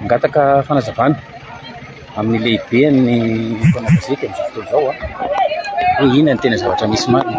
Mangataka fanazavana amin'ny lehiben'ny mpanao gazety amin'izao fotoana izao hoe inona no tena zavatra misy marina.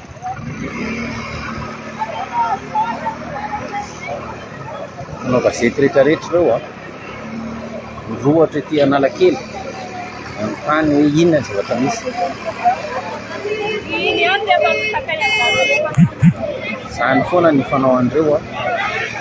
Manao gazety rehetra rehetra ireo an. Mirohotra ety Analakely manontany hoe inona ny zavatra misy. Izany foana ny fanao an'ireo an.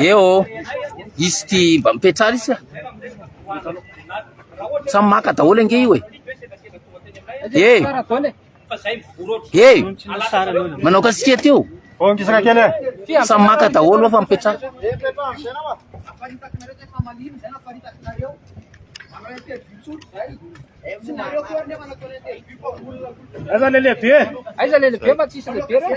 Eo, izy ty mba mipetrara izy. Samy maka daholo ange io e. Eh. Hey! Manao kasike ty o! Samy maka daholo fa mipetraha. Aiza le lehibe? Aiza le lehibe fa tsisy lehibe reo.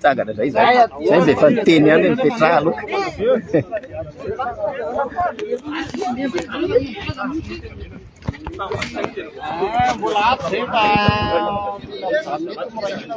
Tsangana zay zay. Zay mbe fa niteny ihany ny Petra aloka. Mbola ato zay fa mbola mety mora hina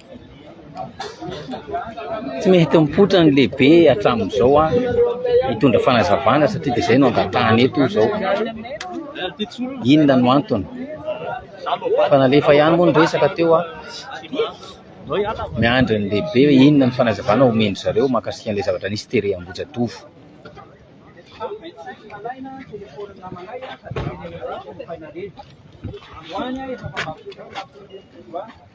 Tsy mety mipoitra ny lehibe hatramin'izao an, hitondra fanazavana satria dia izay no angatahana eto izao. Inona no antony? Efa nalefa ihany moa ny resaka teo an, miandry ny lehibe hoe inona ny fanazavana omen-dry zareo mahakasika an'ilay zavatra nisy tery Ambohijatovo.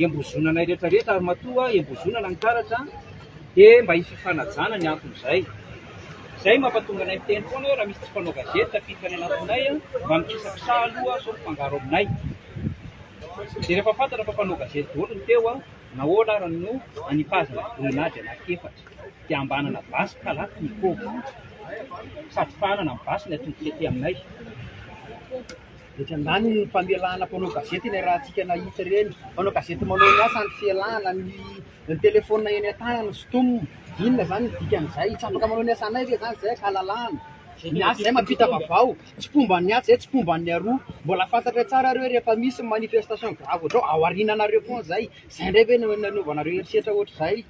iambozonanay rehetra rehetra ary matoa iambozonana ny karatra dia mba hififanajana ny antony izay izay no mampatonga anay miteny foana hoe raha misy tsy mpanao gazety tafiditra any anatinay mba mikisakisaha aloha sao mifangaro aminay dia rehefa fantatra fa mpanao gazety daholo ny teo nahoana ary no anipazana grenady anankiefatra dia ambanana basy kalaky ny koba sady fahanana ny basy ny atody tety aminay Etsy andaniny ny famelana mpanao gazety ilay ratsika nahitsy ireny mpanao gazety manao ny asany fialana ny telefaonina eny an-tanany stom. Inona izany ny dikan'izay? Tsy afaka manao ny asanay ve izany izay ankahalalahana? Ny asa izay mampita vaovao, tsy mpomba an'ny atsy izay tsy mpomba an'ny aroa. Mbola fantatray tsara ireo rehefa misy ny manifestation grave ohatrao ao aoriananareo foana izay. Izay indray ve no nanaovanareo herisetra ohatr'izay?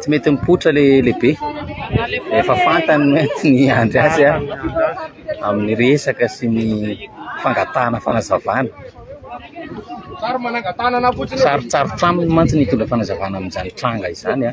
tsy mety mipoitra le lehibe efa fantany mety ny andry azy a amin'ny resaka sy ny fangatahana fanazavana sarotsarotraminy mantsy ny hitondra fanazavana amin'izany tranga izany a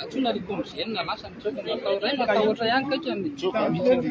Antsoina ry Comgn lasa ny job no atao ray matahotra ihany kaiky amin'ny job mihitsy.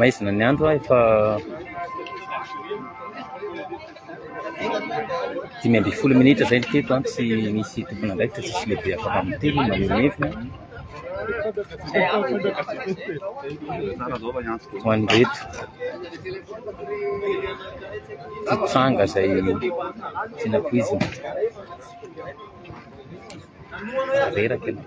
Maizina ny andro a, efa Dimy ambin'ny folo minitra izay ny teto an, tsy misy tompon'andraikitra, tsisy lehibe afaka miteny, maneho ny heviny an. Ho an'ireto tsy tranga izay tiana tohizina. Reraka ianao.